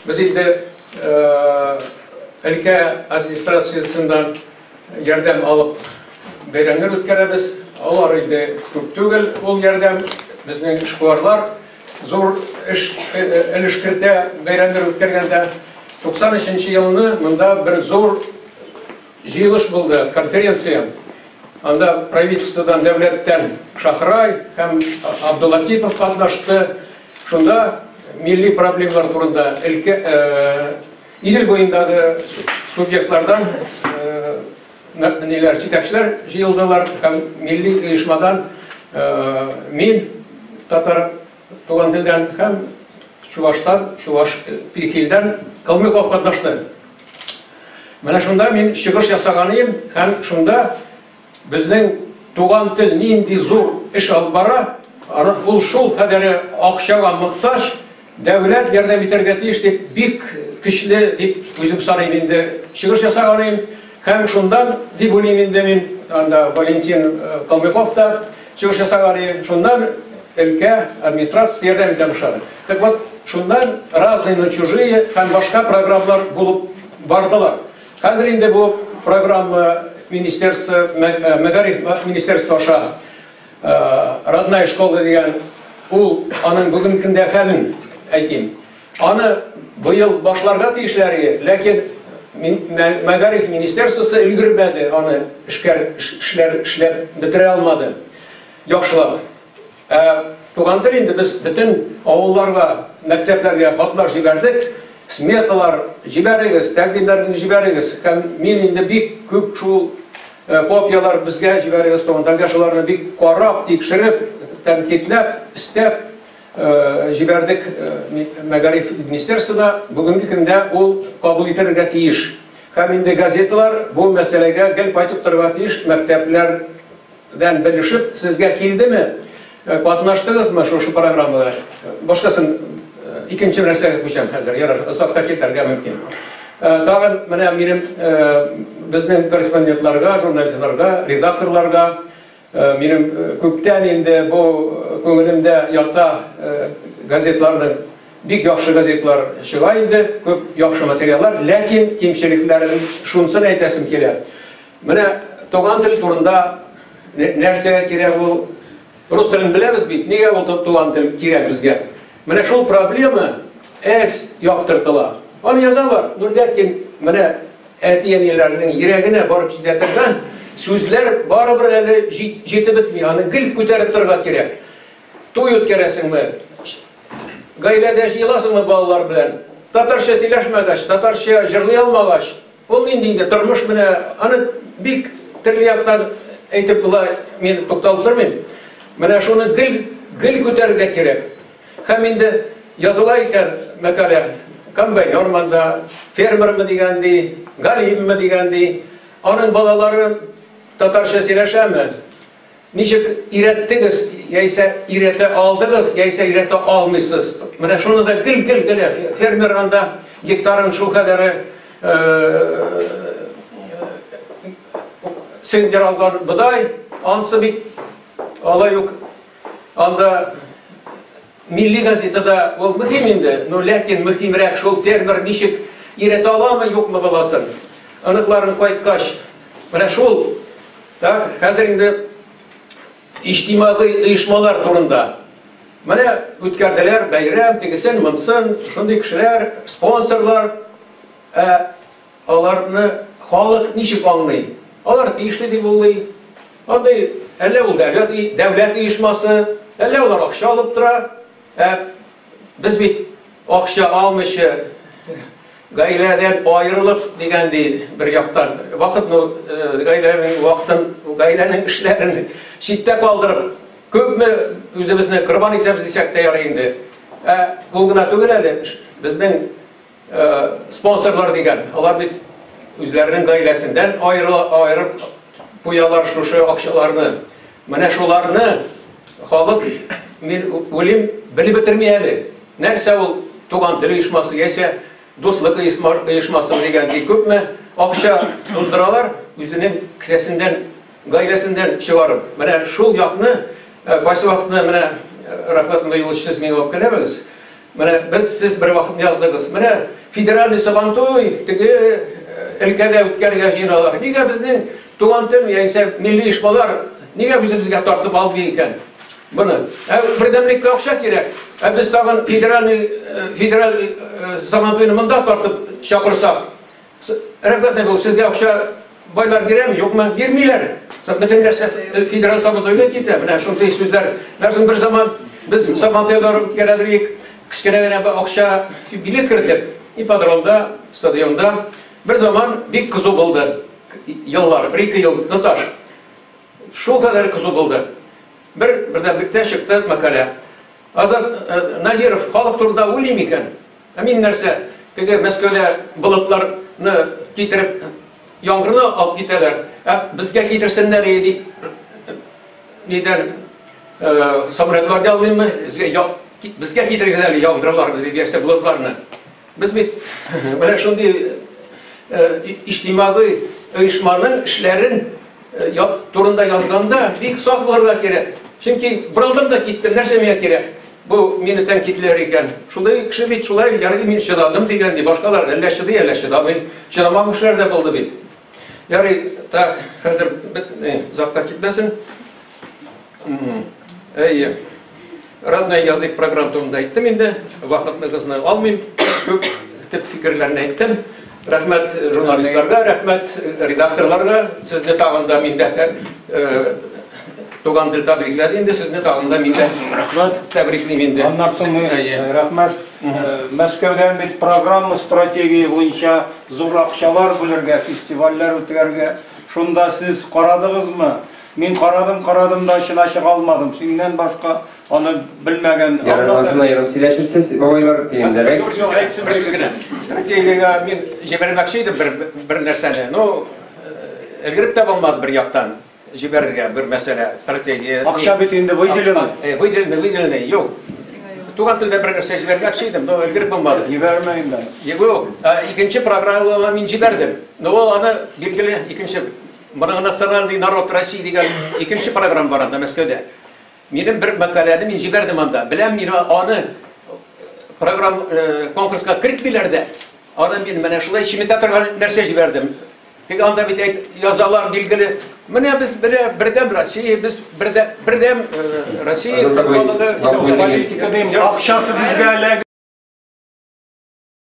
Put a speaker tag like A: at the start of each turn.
A: Без инде өлкә администрациясеннән ярдәм алып бәйрәмнәр үткәрәбез. Алар инде күп түгел, ул ярдәм безнең эшкуарлар зур эш өлеш кертә бәйрәмнәр үткәргәндә. 93 нче елны монда бер зур Җыелыш булды, конференция. Анда правительстводан, дәүләттән Шахрай һәм Абдулатипов катнашты. Шунда милли проблемалар турында өлкә Идел буендагы субъектлардан ниләр җитәкчеләр җыелдылар һәм милли оешмадан мин татар туган телдән һәм чуваштан, чуваш Пихилдән Калмыков катнашты. Менә шунда мин чыгыш ясаганыем һәм шунда безнең туган тел нинди зур эш алып бара, аны ул шул кадәре акчага мохтаҗ, дәүләт ярдәм итәргә тиеш дип бик көчле дип үзем саныйм инде чыгыш ясаганыем һәм шунда дип уйлыйм инде мин анда Валентин Калмыков та Чыгыш ясаган иде, шуннан өлкә администрациясе ярдәм итә башлады. Так вот, шуннан Разные, но чужие һәм башка программалар булып бардылар. Хәзер инде бу программа министерство, мәгариф министерство аша Родная школа дигән, ул аның бүгенге көндә хәлен әйтим. Аны быел башларга тиешләр иде, ләкин мәгариф министерствосы өлгермәде, аны эшләр эшләп бетерә алмады. Яхшылап. Ә туган тел инде без бөтен авылларга, мәктәпләргә хатлар җибәрдек. Сметалар җибәрегез, тәкъдимнәрне җибәрегез. Һәм мин инде бик күп шул э, копиялар безгә җибәрегез, туган телгә шуларны бик карап, тикшереп, тәнкыйтьләп, истәп җибәрдек мәгариф министерствына, бүгенге көндә ул кабул ителергә тиеш. Һәм инде газеталар бу мәсьәләгә гел кайтып торырга тиеш, мәктәпләрдән белешеп, сезгә килдеме, катнаштыгызмы шушы программада? Башкасын икенче нәрсәгә күчәм хәзер, ярар, озакка китәргә мөмкин. Тагын менә минем безнең корреспондентларга, журналистларга, редакторларга Минем күптән инде бу күңелемдә ята, газетларның бик яхшы газетлар чыга инде, күп яхшы материаллар, ләкин кимчелекләрен шунсын әйтәсем килә. Менә туган тел турында нәрсәгә кирәк ул? Рус телен беләбез бит, нигә ул туган тел кирәк безгә? Менә шул проблема әз яктыртыла. Аны язалар, ну ләкин менә Әти-әниләрнең йөрәгенә барып җитә торган сүзләр барыбер әле җитеп бетми, аны гел күтәреп торырга кирәк. Туй үткәрәсеңме, гаиләдә җыеласыңмы балалар белән, татарча сөйләшмәгәч, татарча җырлый алмагач, ул нинди инде тормыш менә, аны бик төрле яктан әйтеп була, мин тукталып тормыйм. Менә шуны гел, гел күтәрергә кирәк. Һәм инде языла икән мәкалә, комбайнермы да, фермермы дигән ди, галимме дигән ди, аның балалары татарча сөйләшәме? Ничек өйрәттегез, яисә өйрәтә алдыгыз, яисә өйрәтә алмыйсыз? Менә шуны да гел-гел генә фермер анда гектарын шул кадәре сөендерә алган бодай, ансы бит алай ук Анда милли газетада ул мөһим инде, но ләкин мөһимрәк шул фермер ничек иретә аламы, юкмы баласын. Аныкларын кайткач, менә шул так хәзер инде иҗтимагый оешмалар турында. Менә үткәрделәр бәйрәм, тегесен, монсын, шундый кешеләр, спонсорлар. Ә Аларны халык ничек аңлый? Алар тиешле дип уйлый. Андый әллә ул дәүләт, дәүләт оешмасы, әллә алар акча алып тора. Ә без бит акча алмыйча гаиләдән аерылып дигән ди бер яктан вакыт ну э, гаиләнең вакытын гаиләнең эшләрен читтә калдырып күпме үзебезне корбан итәбез дисәк тә ярый инде ә ул гына түгел әле безнең Спонсорлар дигән, алар бит үзләренең гаиләсендән аерып куялар шушы акчаларны. Менә шуларны халык мин үлим белеп бетерми әле. Нәрсә ул туган тел оешмасы яисә дуслык оешмасы дигән бик күпме акча туздыралар үзенең кесәсендән, гаиләсендән чыгарып. Менә шул якны кайсы вакытны менә рәхмәтле юлчысыз миңа үпкәләмәгез. Менә без сез бер вакыт яздыгыз. Менә федеральный сабантуй теге өлкәдә үткәрергә җыеналар. Нигә безнең туган тел яисә милли оешмалар нигә үзебезгә тартып алмый икән? Моны. Ә бердәмлеккә акча кирәк. Ә без тагын федеральный федераль сабантуйны монда тартып чакырсак, Рәхмәт, Айгөл, сезгә акча байлар бирәме, юкмы? Бирмиләр. Бөтен нәрсәсе федераль Сабантуйга китә. Менә шундый сүзләр. Ләкин бер заман без Сабантуйда үткәрәдер идек. Кечкенә генә бер акча билет кердек. Ипподромда, стадионда. Бер заман бик кызу булды. Еллар, бер-ике ел тоташ. Шул кадәр кызу булды. Бер бердәнбектә чыкты мәкалә. Азат Надиров халык турында уйлый микән? Ә мин нәрсә, теге Мәскәүдә болытлар ны китереп, яңгырны алып китәләр, ә безгә китерсеннәр и дип нидән, самолетлар ялмыйммы, безгә я, безгә китерегез әле яңгырларны дип яисә болытларны. Без бит менә шундый иҗтимагый оешманың эшләрен Э, турында язганда бик сак булырга кирәк. Чөнки борылдым да киттем, нәрсә миңа кирәк? Бу мине тәнкидләр икән. Шулай кеше бит шулай ярый мин чыдадым дигән ди. Башкалар әллә чыдый, әллә чыдамый. Чыдамаган кешеләр дә булды бит. Ярый, так, хәзер бит, озакка китмәсен. Әйе. Родной язык программ турында әйттем инде. Вакытныгызны алмыйм. Күп төп фикерләрне әйттем. Рәхмәт журналистларга, рәхмәт редакторларга. Сезне тагын да миндә туган тел тәбрикләде инде сезне тагын да миндә. Рәхмәт. Тәбриклим инде. Аннан соң
B: рәхмәт. Мәскәүдән бит программа стратегия буенча зур акчалар бүлергә, фестивальләр үткәрергә. Шунда сез карадыгызмы? Мин карадым, карадым да очына чыга алмадым. Синнән башка аны белмәгән. Ярым ярым
C: сөйләшерсез, бабайлар дигәндәрәк. Юк, юк, әйтсенбез генә. Стратегиягә
A: мин җибәрмәкче идем бер бер нәрсәне. Ну, элгереп тә булмады бер яктан җибәрергә бер мәсьәлә, стратегия. Акча бит инде выделено.
B: Э, выделено,
A: выделено. Юк. Туган телдә бер нәрсә җибәрмәкче идем, но элгереп булмады. Җибәрмә инде.
B: Юк,
A: икенче программага мин җибәрдем. Но ул аны билгеле икенче Моны гына сыран ди народ России дигән икенче программа бар анда Мәскәүдә. Минем бер мәкаләне мин җибәрдем анда. Беләм мин аны программ э, конкурска кертмиләр дә. Аны мин менә шулай чиметә торган нәрсә җибәрдем. Тик анда бит әйт язалар билгеле. Менә без бирә бердәм Россия, без бердәм бердәм
B: э, Россия
A: халыгы
B: политиканың
A: акчасы
B: безгә эләгә.